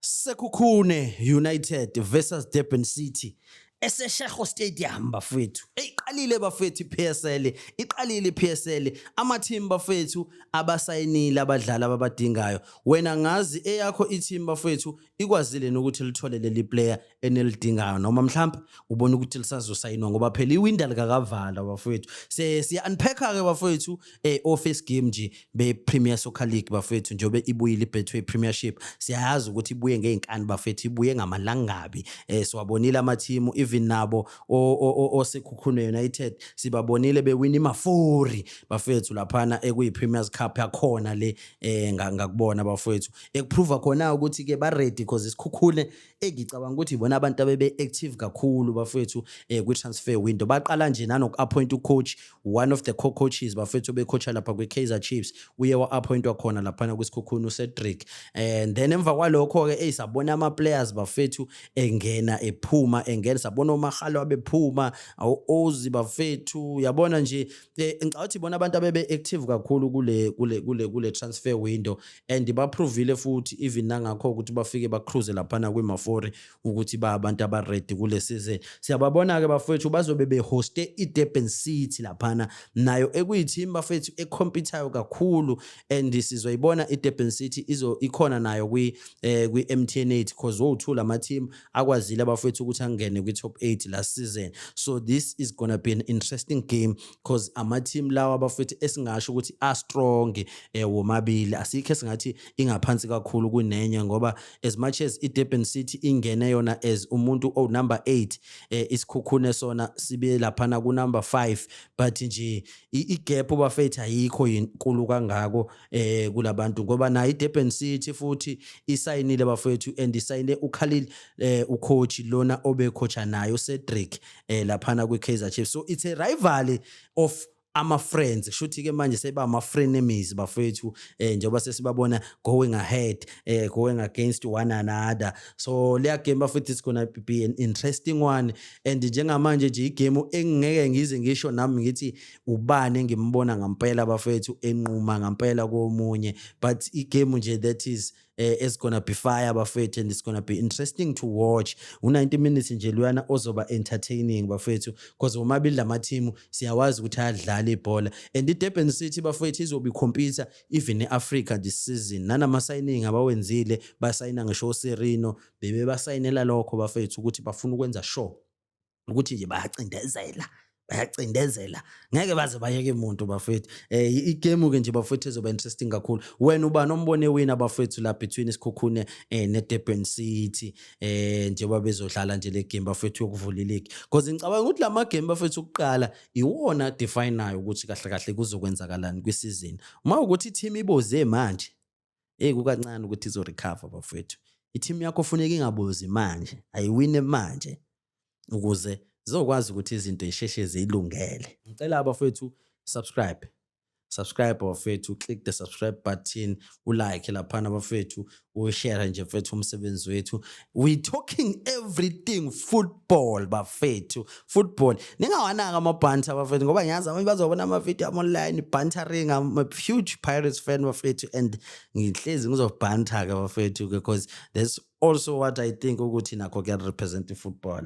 Sekhukhune United versus Durban City esesheho stadium bafethu eyiqalile bafethu iPSL iqalile iPSL ama team bafethu abasayinile abadlali ababadingayo wena ngazi eyakho i team bafethu ikwazile nokuthi lithole leli player enilidingayo noma mhlawumbe ubona ukuthi lisazosayinwa ngoba phela iwinda likakavala bafowethu se siya unpacker ke bafowethu eh office game nje be Premier Soccer League bafowethu njobe ibuyile iBetway Premiership siyayazi ukuthi ibuye ngeenkani bafowethu ibuye ngamalangabi eh siwabonile ama team even nabo osekhukhune United sibabonile bewina imafori bafowethu laphana ekuyi Premier's Cup yakhona le eh ngakubona bafowethu ekuprova khona ukuthi ke ba ready because isikhukhune engicabanga ukuthi bona abantu abebe active kakhulu bafethu eh kwi transfer window baqala nje nanoku appoint u coach one of the co coaches bafethu obecoacha lapha kwi Kaizer Chiefs uye wa appoint wakhona lapha na kwisikhukhuni uCedric eh, and then emva kwalokho ke eyisabona ama players bafethu engena ephuma engena sabona omahalo abephuma ozi bafethu yabona nje eh, ngicabanga ukuthi bona abantu abebe active kakhulu kule kule kule kule transfer window and baprovile futhi even nangakho ukuthi bafike bacruise laphana kwi-mafori ukuthi ba abantu abaredi kule season siyababona-ke bafowethu bazobe behoste i-durban city laphana nayo ekuyithimu bafethu ekhompyuthayo kakhulu and sizoyibona i-durban city ikhona nayo kwi-m t n eight because wowu-two la mathimu akwazile abafowethu ukuthi angene kwi-top 8 last season so this is gonna be an interesting game because ama-team lawa abafowethu esingasho ukuthi astrong um eh, womabili asikho esingathi ingaphansi kakhulu kunenye ngoba as much as i-durban city ingene yona as umuntu owunumber 8 um eh, isikhukhune sona sibe laphana kunumber 5 but nje i-gap bafethu ayikho yinkulu kangako eh kulabantu ngoba nayo iDurban City futhi isayinile bafethu and isayine uKhalil eh ucoach lona obecoacha nayo Cedric eh laphana kwiKaizer Chiefs so it's a rivalry of ama friends shuthi ke manje seba ama frenemies bafethu eh njengoba sesibabona going ahead eh going against one another so leya game bafethu it's gonna be an interesting one and njengamanje nje igame engeke ngize ngisho nami ngithi ubani engimbona ngampela bafethu enquma ngampela komunye but igame nje that is eh, it's gonna be fire bafethu and it's gonna be interesting to watch u-90 minutes nje luyana ozoba entertaining bafethu because womabili lamathimu siyawazi ukuthi ayadlala ibhola and idurban city bafethu izobe ikhompyutha even e-africa this season nanama-signing abawenzile basayina ngisho oserino bebebasayinela lokho bafethu ukuthi bafuna ukwenza sure ukuthi nje bayacindezela bayacindezela ngeke baze bayeke muntu bafethu eh igame ke nje bafethu ezoba interesting kakhulu wena uba nombone wina bafethu la between isikhukhune eh ne Durban City eh njengoba bezodlala nje le game bafethu yokuvula league because ngicabanga ukuthi lama game bafethu ukuqala iwona definayo ukuthi kahle kahle kuzokwenzakalani kwi season uma ukuthi team iboze manje Hey kukancane ukuthi izo recover bafethu. I-team yakho funeka ingabozi manje, ayiwine manje ukuze zizokwazi ukuthi izinto zisheshe zilungele. Ngicela abafethu subscribe subscribe bafethu click the subscribe button ulike laphana bafethu ushare nje mfethu umsebenzi wethu we talking everything football bafethu football ningawanaka amabhantha abafethu ngoba ngiyazi abanye bazobona amavidiyo am online bantering am a huge pirates fan bafethu and ngihlezi ngizobhantha-ke bafethu because that's also what i think ukuthi nakho kuyarepresent ifootball